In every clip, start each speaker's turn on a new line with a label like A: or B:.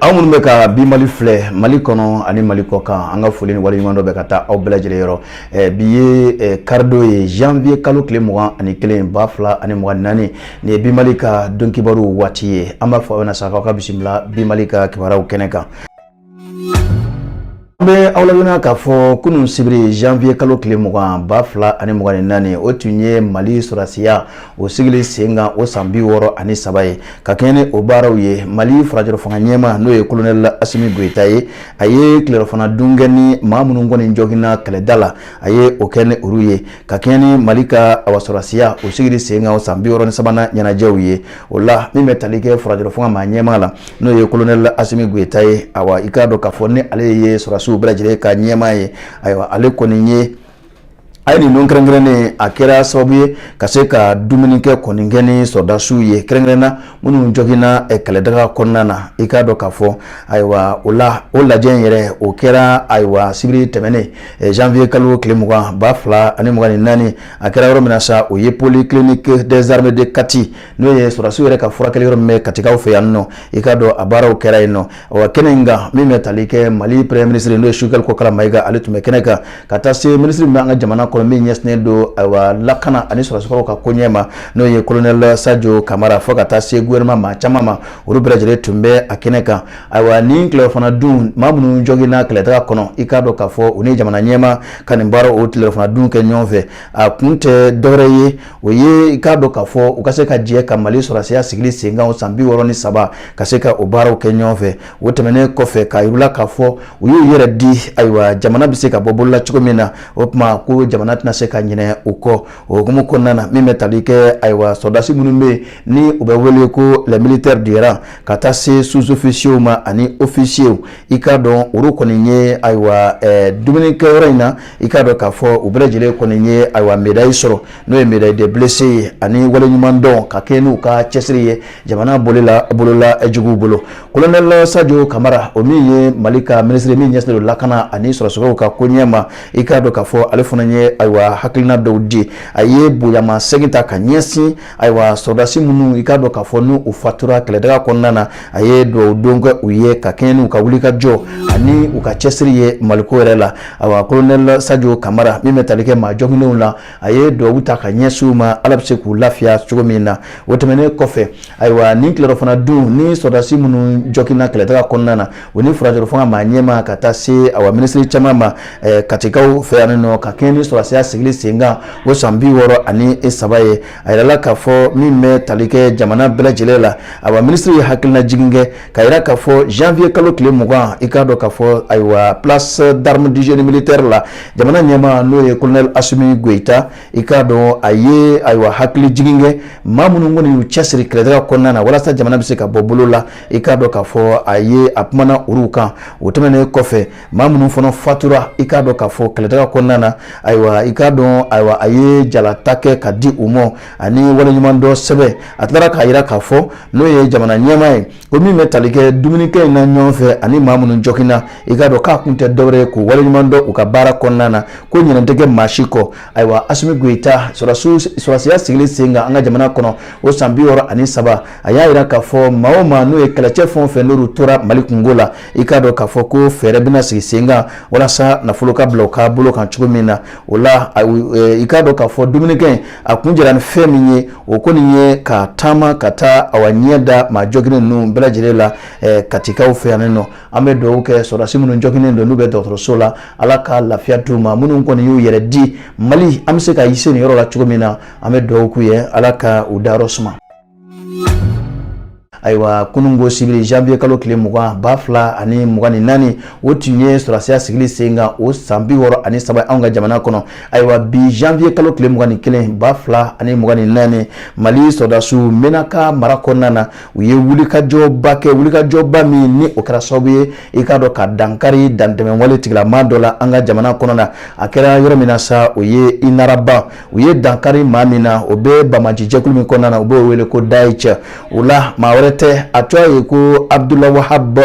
A: aw minnu bɛ ka bi mali filɛ mali kɔnɔ ani mali kɔkan an ka foli ni waleɲumandɔn bɛ ka taa aw bɛɛ lajɛlen yɔrɔ eh, bi ye eh, karidon ye janvier kalo tile mugan ani kelen ba fila ani mugan naani nin ye bi mali ka don kibaru waati ye an b'a fɔ aw bɛna sa k'aw ka bisimila bi mali ka kibaruyaw kɛnɛ kan An bɛ aw ladɔnniya k'a fɔ kunun sibiri janvier kalo tile mugan ba fila ani mugan ni naani o tun ye Mali sɔrɔdasiya o sigili sen kan o san bi wɔɔrɔ ani saba ye ka kɛɲɛ ni o baaraw ye Mali furancɛrɔfanga ɲɛmaa n'o ye kolonɛli Asimi Goyita ye a ye tilerɔfana dun kɛ ni maa minnu kɔni joginna kɛlɛda la a ye o kɛ ni olu ye ka kɛɲɛ ni Mali ka ayiwa sɔrɔdasiya o sigili sen kan o san bi wɔɔrɔ ni sabanan ɲɛnajɛw ye o la min bɛ tali kɛ furancɛrɔfanga maa ɲɛmaa la n'o ye kolonɛli asimi goyita ye ayiwa i k'a dɔn k'a fɔ ni ale ye sɔrɔdasiw bɛɛ lajɛlen ka ɲɛmaa ye ayiwa ale kɔni ye a ye nin don kɛrɛnkɛrɛnnen a kɛra sababu ye ka se ka dumuni kɛ kɔni kɛ ni sɔrɔdasiw ye kɛrɛnkɛrɛnna minnu joginna eh, kɛlɛdaga kɔnɔna na i k'a dɔn k'a fɔ ayiwa o lajɛ in yɛrɛ o kɛra ayiwa sibiri tɛmɛnen eh, janvier kalo tile mugan ba fila ani mugan ni naani a kɛra yɔrɔ min na sa o ye polyclinique des armées de Kati n'o ye sɔrɔdasiw yɛrɛ ka furakɛli yɔrɔ min bɛ Katikaw fɛ yan nɔ i k'a dɔn a baaraw kɛra yen nɔ wa kɛnɛ in kan min bɛ tali kɛ Mali premier ministre n'o ye Sogɛli Kokala Mayiga ale tun bɛ kɛnɛ kan ka taa se ministre min bɛ an ka jamana kɔnɔ min ɲɛsinnen don ayiwa lakana ani sɔrɔdasikɔrɔw ka koɲɛ ma n'o ye colonel Sajo Kamara fo ka taa se gouvernement maa caman ma olu bɛɛ lajɛlen tun bɛ a kɛnɛ kan ayiwa nin tilerɔfana dun maa minnu joginna kɛlɛdaga kɔnɔ i k'a dɔn k'a fɔ u ni jamana ɲɛmaa ka nin baara o tilerɔfana dun kɛ ɲɔgɔn fɛ a kun tɛ dɔwɛrɛ ye o ye i k'a dɔn k'a fɔ u ka se ka jɛ ka mali sɔrɔdasiya sigili senkan o san bi wɔɔrɔ ni saba ka se ka o baaraw kɛ ɲɔgɔn fɛ o tɛmɛnen kɔfɛ k'a yira u la k'a fɔ u y'u yɛrɛ di ayiwa jamana bɛ se ka bɔ bolo la cogo min na o tuma ko jamana tɛna se ka ɲinɛ u kɔ o hukumu kɔnɔna na min bɛ tali kɛ ayiwa sɔrɔdasi minnu bɛ yen ni u bɛ wele ko les militaires du rang ka taa se sous-officiers ma ani officiers i k'a dɔn olu kɔni ye ayiwa eh, dumunikɛyɔrɔ in na i k'a dɔn k'a fɔ u bɛɛ lajɛlen kɔni ye ayiwa medayi sɔrɔ n'o ye médaille de blessé ye ani waleɲumandɔn ka kɛɲɛ n'u ka cɛsiri ye jamana bɔli la eh, juguw bolo kolonɛli sajo kamara o min ye mali ka minisiri min ɲɛsinnen don lakana ani sɔrɔdasikɔrɔw ka koɲɛ ma i k'a dɔn k'a fɔ ale fana ye ayiwa hakilina dɔw di a ye bonyamasegin ta ka ɲɛsin Ayiwa sɔrɔdasi minnu i k'a dɔn k'a fɔ n'u fatura kɛlɛdaga kɔnɔna na a ye dugawu don kɛ u ye ka kɛɲɛ n'u ka wulikajɔ ani u ka cɛsiri ye maliko yɛrɛ la ayiwa kolonɛli sajo kamara min bɛ tali kɛ maa joginnenw la a ye dugawu ta ka ɲɛsin u ma ala bɛ se k'u lafiya cogo min na o tɛmɛnen kɔfɛ ayiwa nin tilerɔfana dun ni sɔrɔdasi minnu joginna kɛlɛdaga kɔnɔna na o ni furancɛrɔ fanga maa ɲɛmaa ka taa se awa minisiri caman ma eh, katikaw fɛ yan nɔ ka kɛɲɛ ni sɔrɔdasiya sigili sen kan o san bi wɔɔrɔ ani e saba ye a yirala k'a fɔ min bɛ tali kɛ jamana bɛɛ lajɛlen la awa minisiri ye hakilina jigin kɛ ka yira k'a fɔ janvier kalo tile mugan i k'a dɔn k'a fɔ ayiwa place d'armes du génie militaire la jamana ɲɛmaa n'o ye colonel asimi goyita i k'a dɔn a ye ayiwa hakili jigin kɛ maa minnu kɔni y'u cɛsiri kɛlɛdaga kɔnɔna na walasa jamana bɛ se ka bɔ bolo la i k'a dɔn k'a fɔ a ye a kumana olu kan o tɛmɛnen kɔfɛ maa minnu fana fatura i k'a dɔn k'a fɔ kɛlɛdaga kɔnɔna na ayiwa i k'a dɔn ayiwa a ye jalata kɛ ka di u ma ani waleɲumandɔn sɛbɛn a tilara k'a jira k'a fɔ n'o ye jamana ɲɛmaa ye ko min bɛ tali kɛ dumunikɛ in na ɲɔgɔn fɛ ani maa minnu jɔginna i k'a dɔn k'a kun tɛ dɔwɛrɛ ye k'u waleɲuman dɔn u ka baara kɔnɔna na ko ɲinɛ tɛ kɛ maa si kɔ ayiwa asimi goyita sɔrɔdasiya sigilen sen kan an ka jamana kɔnɔ o san bi wɔɔrɔ ani saba a y'a jira k'a fɔ maa o maa n'o ye kɛlɛcɛ fɛn o fɛn n'olu tora mali kunko la i k'a dɔn k'a fɔ ko fɛɛrɛ bɛna sigi sen kan walasa nafolo ka bila u ka bolo kan cogo min na o la e, i k'a dɔn k'a fɔ dumunikɛ in a kuncɛra ni fɛn min ye o kɔni ye ka taama ka taa awa ɲɛ da maa jɔginen ninnu bɛɛ lajɛlen la e, katikaw fɛ yan nɔ an bɛ dugawu kɛ sɔrɔdasi minnu jɔginen don n'u bɛ dɔgɔtɔrɔso la ala ka lafiya d'u ma minnu kɔni y'u yɛrɛ di mali an bɛ se ka i se nin yɔrɔ la cogo min na an bɛ dugawu k'u ye ala ka u dayɔrɔ suma ayiwa kununko sibiri janvier kalo tile mugan ba fila ani mugan ni naani o tun ye sɔrɔdasiya sigili sen kan o san bi wɔɔrɔ ani saba anw ka jamana kɔnɔ ayiwa bi janvier kalo tile mugan ni kelen ba fila ani mugan ni naani mali sɔrɔdasiw mɛnaka mara kɔnɔna na u ye wulikajɔba kɛ wulikajɔba min ni o kɛra sababu ye i k'a dɔn ka dankari dantɛmɛwale tigilama dɔ la an ka jamana kɔnɔ na a kɛra yɔrɔ min na sa o ye inaraban u ye dankari maa min na o bɛ banbaanci jɛkulu min kɔnɔna na u b'o wele ko dayisha o la maa wɛrɛ tɛ a tɔgɔ ye ko abudul wahab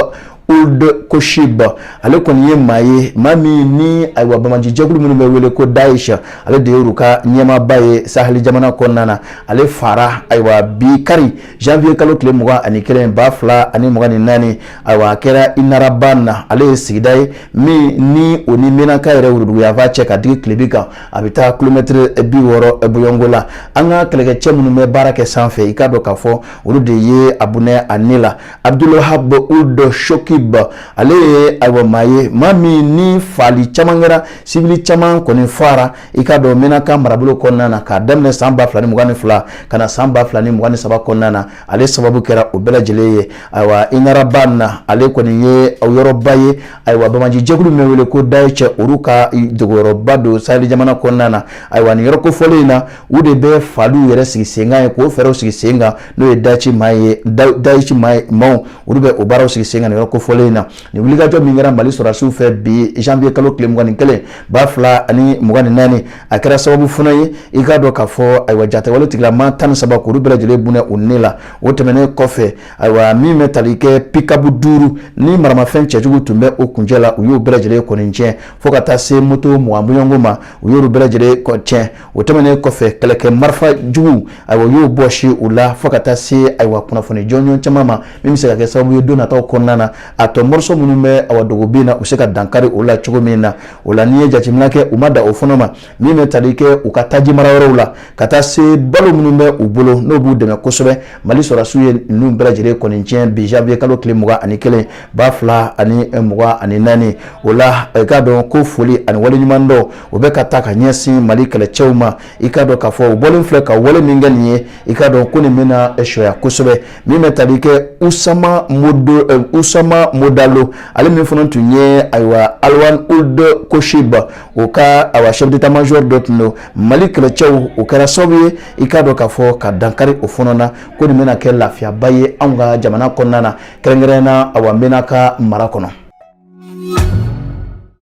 A: uld koshib ale kɔni ye maa ye maa min ni ayiwa banbaanci jɛkulu minnu bɛ wele ko dayisha ale de y'olu ka ɲɛmaaba ye sahɛli jamana kɔnɔna na ale faara ayiwa bi kari janvier kalo tile mugan ani kelen ba fila ani mugan ni naani ayiwa a kɛra inaraban na ale ye sigida ye min ni o ni mɛnaka yɛrɛ worodugu yanfan cɛ ka digi tilebin kan a bɛ taa kilomɛtɛrɛ bi wɔɔrɔ bɔɲɔgɔnko la an ka kɛlɛkɛcɛ minnu bɛ baara kɛ sanfɛ i k'a dɔn k'a fɔ olu de ye a bɔnɛ a ni la abudul wahab uld shokib ale ye ayiwa maa ye maa min ni faali caman kɛra siwili caman kɔni faara i k'a dɔn mɛnaka marabolo kɔnɔna na k'a daminɛ san ba fila ni mugan ni fila ka na san ba fila ni mugan ni saba kɔnɔna na ale sababu kɛra o bɛɛ lajɛlen ye ayiwa inaraban na ale kɔni ye yɔrɔba ye ayiwa banbaanci jɛkulu min wele ko daesh olu ka dogoyɔrɔba don sahel jamana kɔnɔna na ayiwa ni yɔrɔ kofɔlen in na u de bɛ faliw yɛrɛ sigi senkan ye k'o fɛɛrɛw sigi sen kan n'o ye daesh maa ye daesh maaw olu bɛ o baaraw sigi sen kan yɔrɔ kofɔlen in na nin wulikajɔ min kɛra mali sɔrɔdasiw fɛ bi janvier kalo tile mugan ni kelen ba fila ani mugan ni naani a kɛra sababu fana ye i k'a dɔn k'a fɔ ayiwa jatigɛwale tigilama tan ni saba k'olu bɛɛ lajɛlen bɔnɛ u ni la o tɛmɛnen kɔfɛ ayiwa min bɛ tali kɛ pikabu duuru ni maramafɛn cɛjugu tun bɛ o kuncɛ la u y'o bɛɛ lajɛlen kɔni tiɲɛ fo ka taa se moto mugan bɔɲɔgɔnko ma u y'olu bɛɛ lajɛlen tiɲɛ o tɛmɛnen kɔfɛ kɛlɛkɛ marifa jugu ayiwa u y'o bɔsi u la fo ka taa se ayiwa kunnafoni jɔnjɔn caman ma min bɛ se ka kɛ sababu ye don nataw kɔnɔna na a tɔ mɔriso minnu bɛ awa dogo bin na u se ka dankari o la cogo min na o la n'i ye jateminɛ kɛ u ma dan o fana ma min bɛ tali kɛ u ka taji mara yɔrɔw la ka taa se balo minnu bɛ u bolo n'o b'u dɛmɛ kosɛbɛ mali sɔrɔdasiw ye ninnu bɛɛ lajɛlen kɔni tiɲɛ bi janvier kalo tile mugan ani kelen ba fila ani mugan ani naani o la i k'a dɔn ko foli ani waleɲuman dɔn o bɛ ka taa ka ɲɛsin mali kɛlɛcɛw ma i k'a dɔn k'a fɔ u bɔlen filɛ ka wale min kɛ nin ye i k'a dɔn ko nin bɛna sɔya kosɛbɛ min bɛ tali kɛ usama modo ɛ usama modalo ale min fana tun ye ayiwa alwan ould koshiba o ka ayiwa chef d'état major dɔ tun don mali kɛlɛcɛw o kɛra sababu ye i k'a dɔn k'a fɔ ka dankari o fana na ko nin bɛna kɛ lafiyaba ye anw ka jamana kɔnɔna na kɛrɛnkɛrɛnnenya na ayiwa menaka mara kɔnɔ.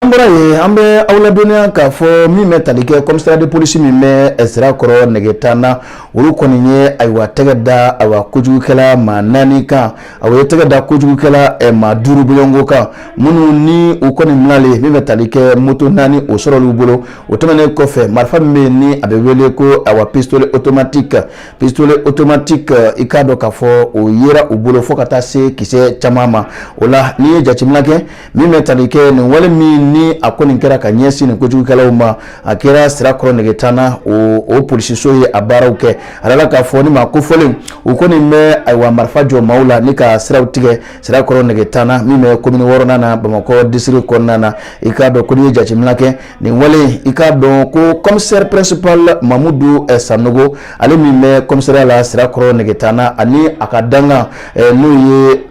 A: an bɔra yen an bɛ aw ladɔnniya k'a fɔ min bɛ tali kɛ kɔmisariya de polisi min bɛ sirakɔrɔ nɛgɛtan na olu kɔni ye ayiwa tɛgɛ da ayiwa kojugukɛla maa naani kan a ye tɛgɛ da kojugukɛla eh, maa duuru bɔɲɔgɔnko kan minnu ni u kɔni minalen min bɛ tali kɛ moto naani o sɔrɔl'u bolo o tɛmɛnen kɔfɛ marifa min bɛ yen ni a bɛ wele ko ayiwa pistolet automatique pistolet automatique euh, i k'a dɔn k'a fɔ o yera u bolo fo ka taa se kisɛ caman ma o la n'i ye jateminɛ kɛ min bɛ tali kɛ nin wale min ni a kɔni kɛra ka ɲɛsin nin kojugukɛlaw ma a kɛra sirakɔrɔ nɛgɛtan na o o polisiso ye a baaraw kɛ a dala k'a fɔ ni maa kofɔlen u kɔni bɛ ayiwa marifa jɔ maaw la ni ka siraw tigɛ sirakɔrɔ nɛgɛtan na min bɛ komini wɔɔrɔnan na bamakɔ district kɔnɔna na i k'a dɔn ko n'i ye jateminɛ kɛ nin wale i k'a dɔn ko commissaire principal mamudu eh, sanɔgɔ ale min bɛ kɔmisariya la sirakɔrɔ nɛgɛtan na ani a ka dankan eh, n'o ye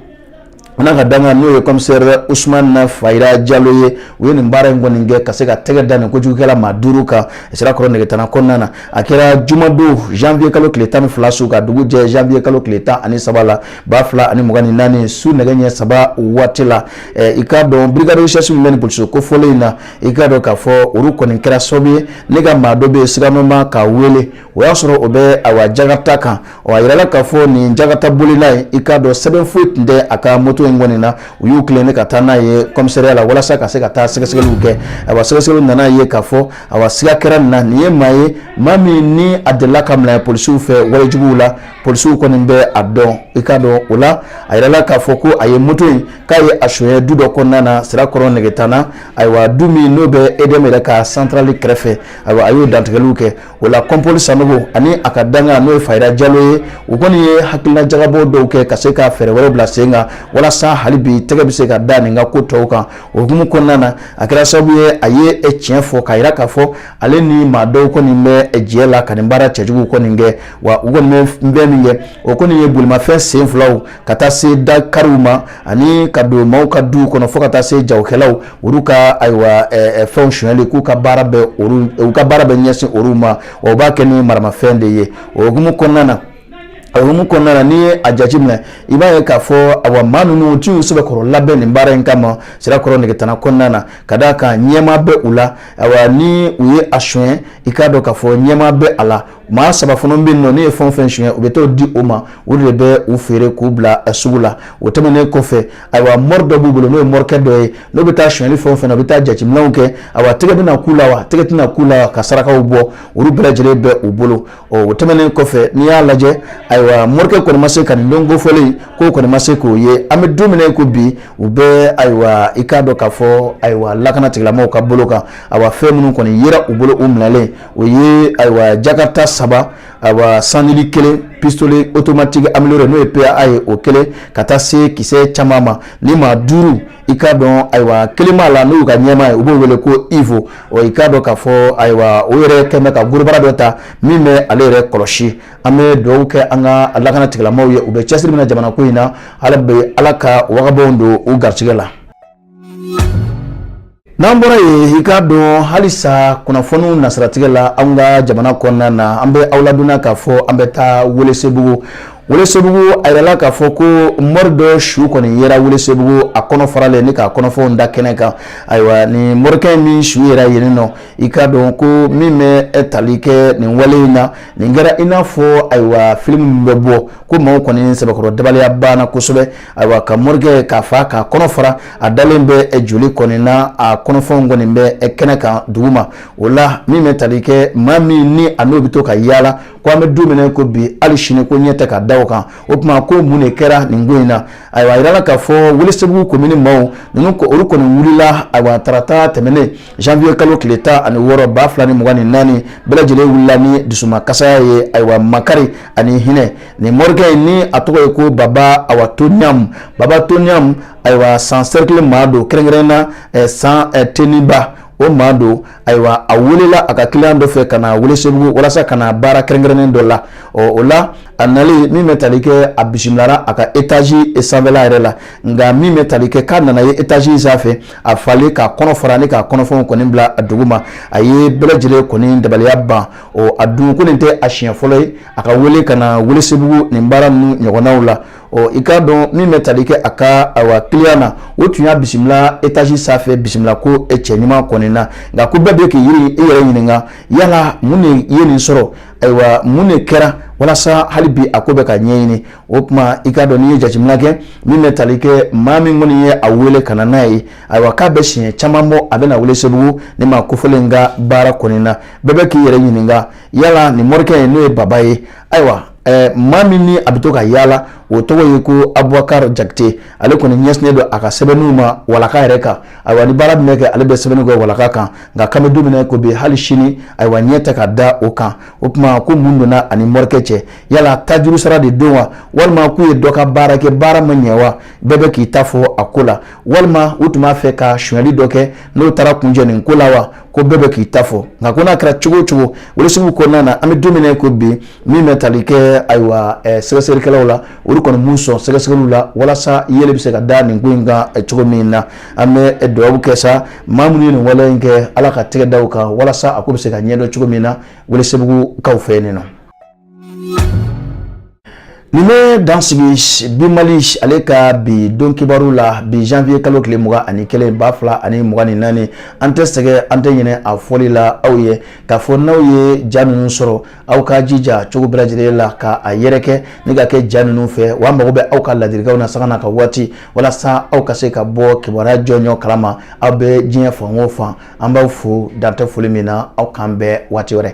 A: n ka dankan n'o ye commissaire usumani fajira jalo ye u ye nin baara in kɔni kɛ ka se ka tɛgɛ da nin kojugukɛla maa duuru kan sirakɔrɔ nɛgɛtan kɔnɔna na a kɛra jumadon janvier kalo tile tan ni fila su ka dugu jɛ janvier kalo tile tan ani saba la ba fila ani mugan ni naani su nɛgɛ ɲɛ saba waati la eh, i k'a dɔn brigade de recherche bɛ nin kofɔlen in na i k'a dɔn k'a fɔ olu kɔni kɛra sababu ye ne ka maa dɔ bɛ yen siganamaa k'a wele o y'a sɔrɔ o bɛ ayiwa jakata kan ɔ a yirala k'a fɔ nin jakata bolila ye i k'a dɔn sɛbɛn foyi tun tɛ a ka moto in kɔni na u y'u tilen ne ka taa n'a ye kɔmisariya la walasa ka se ka taa sɛgɛsɛgɛliw kɛ ayiwa sɛgɛsɛgɛliw nana ye k'a fɔ ayiwa siga kɛra nin na nin ye maa ye maa min ni a delila ka minɛ polisiw fɛ walejuguw la polisiw kɔni bɛ a dɔn i k'a dɔn o la a yirala k'a fɔ ko a ye moto in k'a ye a suɲɛ du dɔ kɔnɔna na sirakɔrɔ negetana ayiwa du min n'o bɛ edeyɛmu yɛrɛ ka santarali kɛrɛfɛ ayiwa a y'o dantigɛliw kɛ o la kɔnpoli sanogo ani a ka dankan n'o ye fayira jalo ye u kɔni ye hakilina jagabɔ dɔw kɛ ka se ka fɛɛrɛ wɛrɛw bila sen kan walasa hali bi tɛgɛ bɛ se ka da nin ka ko tɔw kan o hukumu kɔnɔna na a kɛra sababu ye a ye tiɲɛ fɔ k'a yira k'a fɔ ale ni maa dɔw kɔni bɛ jɛ la ka nin baara cɛjugu kɔni kɛ wa u kɔni bɛ fɛn min kɛ o kɔni ye bolimafɛn sen filaw ka taa se dakariw ma ani ka don maaw ka du kɔnɔ fo ka taa se jagokɛlaw olu ka ayiwa fɛnw sonyali k'u ka baara bɛ u ka baara bɛ ɲɛsin olu ma u b'a kɛ ni maramafɛn de ye o hukumu kɔnɔna na a hukumu kɔnɔna na n'i ye a jateminɛ i b'a ye k'a fɔ awa maa ninnu u t'u sɛbɛkɔrɔ labɛn nin baara in kama sirakɔrɔ negetana kɔnɔna na ka d'a kan ɲɛmaa bɛ u la awa ni u ye a sonya i k'a dɔn k'a fɔ ɲɛmaa bɛ a la maa saba fana bɛ yen nɔ n'u ye fɛn o fɛn suɲɛ u bɛ t'o di o ma o de bɛ u feere k'u bila a sugu la o tɛmɛnen kɔfɛ ayiwa mɔri dɔ b'u bolo n'o ye mɔrikɛ dɔ ye n'u bɛ taa suɲɛli fɛn o fɛn na u bɛ taa jateminɛw kɛ ayiwa tɛgɛ bɛna k'u la wa tɛgɛ tɛna k'u la ka sarakaw bɔ olu bɛɛ lajɛlen bɛ u bolo ɔ o tɛmɛnen kɔfɛ n'i y'a lajɛ ayiwa mɔrikɛ kɔni ma se ka nin don kofɔlen k'o kɔni ma se k'o ye an bɛ don min na ko bi u bɛ ayiwa i k'a dɔn k'a fɔ ayiwa lakana tigilamɔgɔw ka bolo kan ayiwa fɛn minnu kɔni yera u bolo u minɛlen o ye ayiwa jakata saba ayiwa sanili kelen pistole otomatigi ameliyore n'o ye pa ye o kelen ka taa se kisɛ caman ma ni maa duuru i k'a dɔn ayiwa kelen b'a la n'u ka ɲɛmaa ye u b'o wele ko ivo ɔ i k'a dɔn k'a fɔ ayiwa o yɛrɛ kɔni bɛ ka gorobara dɔ ta min bɛ ale yɛrɛ kɔlɔsi an bɛ dugawu kɛ an ka lakana tigilamɔgɔw ye u bɛ cɛsiri min na jamana ko in na ala ka wagabaw don u garisɛgɛ la n'an bɔra yen i k'a dɔn halisa kunnafoniw nasiratigɛ la an ka jamana kɔnɔna na an bɛ aw ladonna k'a fɔ an bɛ taa welesebugu welesebugu a yirala k'a fɔ ko mɔri dɔ su kɔni yera welesebugu a kɔnɔ faralen ni k'a kɔnɔfɛnw da kɛnɛ kan ayiwa nin mɔrikɛ min su yera yen nɔ i k'a dɔn ko min bɛ tali kɛ nin wale in na nin kɛra i n'a fɔ ayiwa filimu bɛ bɔ ko maaw kɔni sɛbɛkɔrɔ dabaliya banna kosɛbɛ ayiwa ka morikɛ k'a fa k'a kɔnɔ fara a dalen bɛ joli kɔni na a kɔnɔfɛnw kɔni bɛ kɛnɛ kan dugu ma o la min bɛ tali kɛ maa min ni a n'o bɛ to ka yaala ko an bɛ don min ko bi hali sini ko ɲɛ tɛ ka da o kan o tuma ko mun de kɛra nin ko in na ayiwa a jirala k'a fɔ welesebugu komini maaw ninnu olu kɔni wulila ayiwa tarata tɛmɛnen janvier kalo tile tan ani wɔɔrɔ ba fila ni mugan ni naani bɛɛ lajɛlen wulila ni dusumakasaya ye ayiwa makari ani hinɛ nin morikɛ in ni a tɔgɔ ye ko baba awa toniyamu baba toniyamu ayiwa san sɛrikili maa don kɛrɛnkɛrɛnna eh, san eh, teniba o maa don ayiwa a welela a ka kiliyan dɔ fɛ ka na welesebugu walasa ka na baara kɛrɛnkɛrɛnnen dɔ la ɔ o la a nali min bɛ tali kɛ a bisimilara a ka etazi sanfɛla yɛrɛ la nka min bɛ tali kɛ k'a nana ye etazi sanfɛ a falen k'a kɔnɔ fara ni k'a kɔnɔfɛnw kɔni bila a dugu ma a ye bɛɛ lajɛlen kɔni dabaliya ban ɔ a dun ko nin tɛ a siɲɛ fɔlɔ ye a ka wele ka na welesebugu nin baara ninnu ɲɔgɔnnaw la ɔ i k'a dɔn min bɛ tali kɛ a ka ayiwa kiliyan na o tun y'a bisimila etazi sanfɛ bisimila ko e cɛ ɲuman kɔni na nka ko bɛɛ bɛ k'i yɛrɛ i yɛrɛ ɲininka yala mun de ye nin sɔrɔ ayiwa mun de kɛra walasa hali bi a ko bɛ ka ɲɛɲini o tuma i k'a dɔn n'i ye jateminɛ kɛ min bɛ tali kɛ maa min kɔni ye a wele ka na n'a ye ayiwa k'a bɛ siɲɛ caman bɔ a bɛ na welesebugu nin maa kofɔlen ka baara kɔni na bɛɛ bɛ k'i yɛrɛ ɲininka yala nin morikɛ in n'o ye baba ye ayiwa ɛɛ maa min ni a bɛ to ka yaala o tɔgɔ ye ko abubakar jakite ale kɔni ɲɛsinnen don a ka sɛbɛnniw ma walaka yɛrɛ kan ayiwa ni baara bɛ kɛ ale bɛ sɛbɛnni kɛ walaka kan nka k'an bɛ don min na ko bi hali sini ayiwa ɲɛ tɛ ka da o kan o tuma ko mun donna a ni morikɛ cɛ yala tajuru sara de don wa walima k'u ye dɔ ka baara kɛ baara ma ɲɛ wa bɛɛ bɛ k'i ta fɔ a ko la walima u tun b'a fɛ ka sonyali dɔ kɛ n'o taara kuncɛ nin ko la wa ko bɛɛ bɛ k'i ta fɔ nka ko n'a kɛra cogo o cogo welesebugu kɔnɔna na an bɛ don min ko bi min bɛ tali kɛ ayiwa sɛgɛsɛgɛlikɛlaw la olu kɔni m'u sɔn sɛgɛsɛgɛliw la walasa yeelen bɛ se ka da nin ko in kan cogo min na an bɛ dugawu kɛ sa maa minnu ye nin wale in kɛ ala ka tɛgɛ da u kan walasa a ko bɛ se ka ɲɛdɔn cogo min na welesebugukaw fɛ nin na nin bɛ dan sigi bi mali ale ka bi don kibaru la bi janvier kalo tile mugan ani kelen ba fila ani mugan ni naani an tɛ sɛgɛn an tɛ ɲinɛ a fɔli la aw ye k'a fɔ n'aw ye ja ninnu sɔrɔ aw ka jija cogo bɛɛ lajɛlen la ka a yɛrɛkɛ ni ka kɛ ja ninnu fɛ wa mago bɛ aw ka ladilikanw na sanga n'a ka waati walasa aw ka se ka bɔ kibaruya jɔnjɔn kalama aw bɛ diɲɛ fan o fan an b'aw fo dan tɛ foli min na aw k'an bɛn waati wɛrɛ.